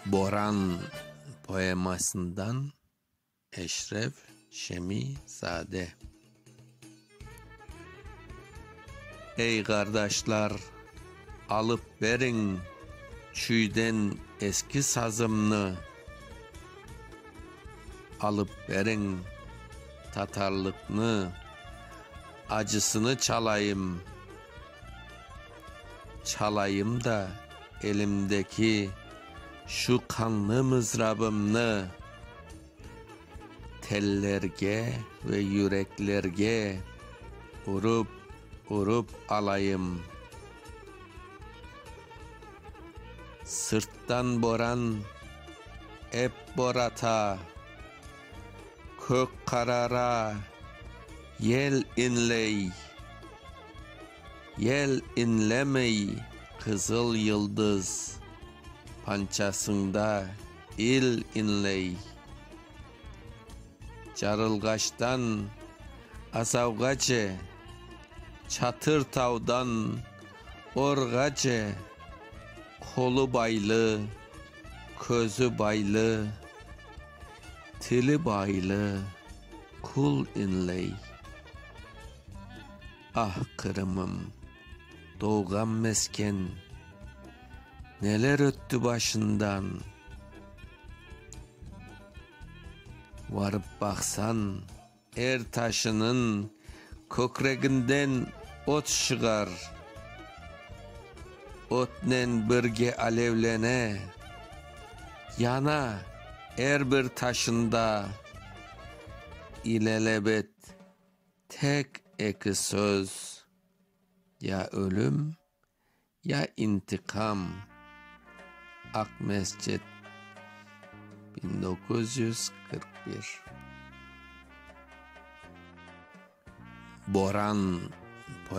Boran poemasından Eşref Şemizade Ey, qardaşlar, alıp beriñ çüyden eski sazımnı, Alıp beriñ, tatarlıqnı, acısını çalayım. Çalayım da elimdeki şu qanlı mızrabımnı tellerge ve yüreklerge urıp, urıp alayım. Sırttan boran ep borata, kök qarara, yel inley. Yel iñlemey qızıl yıldız. Pançasında il iñley. Carılğaçtan azavğace, Çatır tavdan orğace, Qolu baylı, közü baylı, Tili baylı kul iñley. Ah, Qırımım, doğğan mesken, Neler ötti başından, Varıp baqsan, er taşınıñ Kökreginden ot şığar, Ötnen birge alevlene, Yana er bir taşında İlelebet. Tek eki söz, ya ölüm, ya intiqam, Aqmescit, biñ doquz yüz qırq bir. Boran.